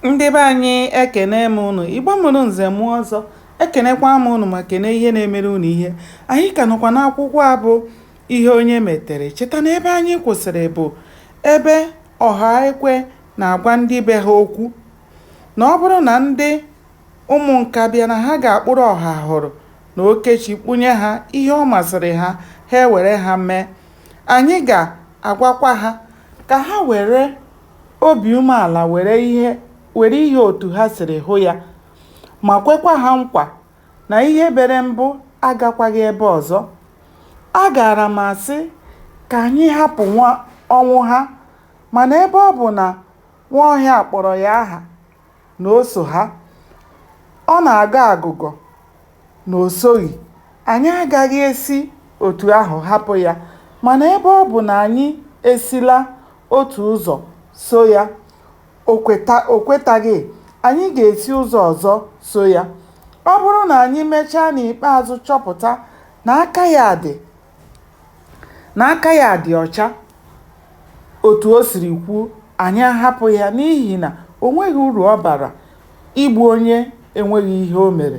ndị be anyị ekene m ụnụ igbo mụrụ nze mụọ ọzọ ekenekwa m ụnụ ma kene ihe na-emere ụnụ ihe anyị ka nọkwa n'akwụkwọ a bụ ihe onye metere cheta na ebe anyị kwụsịrị bụ ebe ọhaekwe na-agwa ndị be ha okwu na ọ bụrụ na ndị ụmụ nka bịa na ha ga-akpụrụ ọhahụrụ na okechi kpụnye ha ihe ọ masịrị ha ha ewere ha mee anyị ga-agwakwa ha ka ha were obi umeala were ihe were ihe otu ha siri hụ ya ma kwekwa ha nkwa na ihe bere mbụ agakwaghị ebe ọzọ, a gaara m asị ka anyị hapụ nwa Ọnwụha mana ebe ọ bụ na Nwaọhịa kpọrọ ya aha, na o so ha, ọ na-agọ agụgọ na o soghị, anyị agaghị esi otu ahụ hapụ ya. Mana ebe ọ bụ na anyị esila otu ụzọ so ya, o kwetaghị, anyị ga-esi ụzọ ọzọ so ya. Ọ bụrụ na anyị mechaa n'ikpeazụ chọpụta na aka ya dị na aka ya dị ọcha otu o siri kwuo anyị ahapụ ya n'ihi na o nweghị uru ọ bara igbu onye enweghị ihe o mere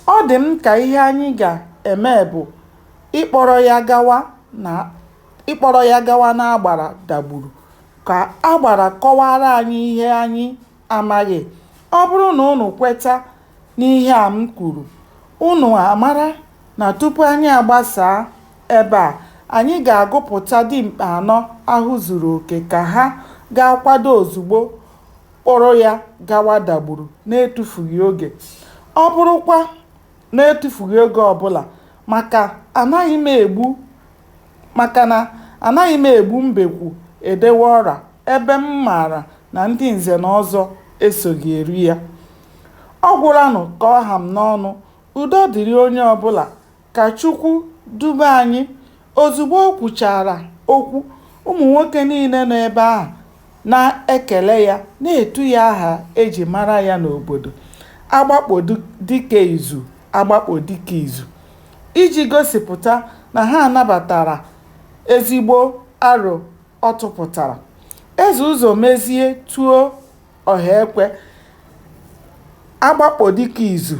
ọ dị m ka ihe anyị ga-eme bụ ịkpọrọ ya gawa na ịkpọrọ ya gawa n'agbara dagburu ka agbara kọwara anyị ihe anyị amaghị. Ọ bụrụ na unu kweta n'ihe a m kwuru, unu amara na tupu anyị agbasaa ebe a, anyị ga-agụpụta dimkpa anọ ahụ zuru oke ka ha gaa kwado ozugbo, kpọrọ ya gawa Dagburu n'etufughị oge. Ọ bụrụkwa. na-etufughị oge ọbụla maka anaghị m egbu maka na anaghị m egbu mbekwu edewe ọra ebe m maara na ndị nze na ọzọ esoghị eri ya. Ọ gwụlanụ ka ọ ha m n'ọnụ. Udo dịrị onye ọbụla. Ka Chukwu dube anyị. Ozugbo o kwuchara okwu, ụmụ nwoke niile nọ ebe ahụ na-ekele ya, na-etu ya aha e ji mara ya n'obodo, Agbakpọ dike izu, Agbakpọ dike izu. Iji gosipụta na ha nabatara ezigbo aro ọ tụpụtara, Eze Ụzọmezie tuo Ọhaekwe agbakpọ dike izu.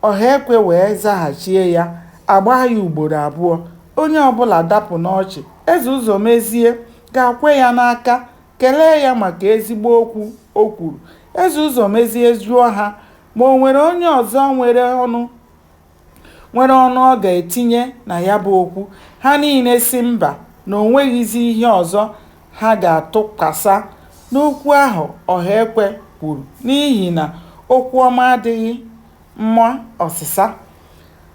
Ọhaekwe wee zaghachie ya, a gbaa ya ugboro abụọ. Onye ọbụla dapụ n'ọchị. Eze Ụzọmezie gaa kwe ya n'aka, kelee ya maka ezigbo okwu o kwuru. Eze Ụzọmezie jụọ ha ma o nwere onye ọzọ nwere ọnụ nwere ọnụ ọ ga-etinye na ya bụ okwu, ha niile sị mba na o nweghịzi ihe ọzọ ha ga-atụkwasa n'okwu ahụ Ohaekwe kwuru n'ihi na okwu ọma adịghị mma ọsịsa.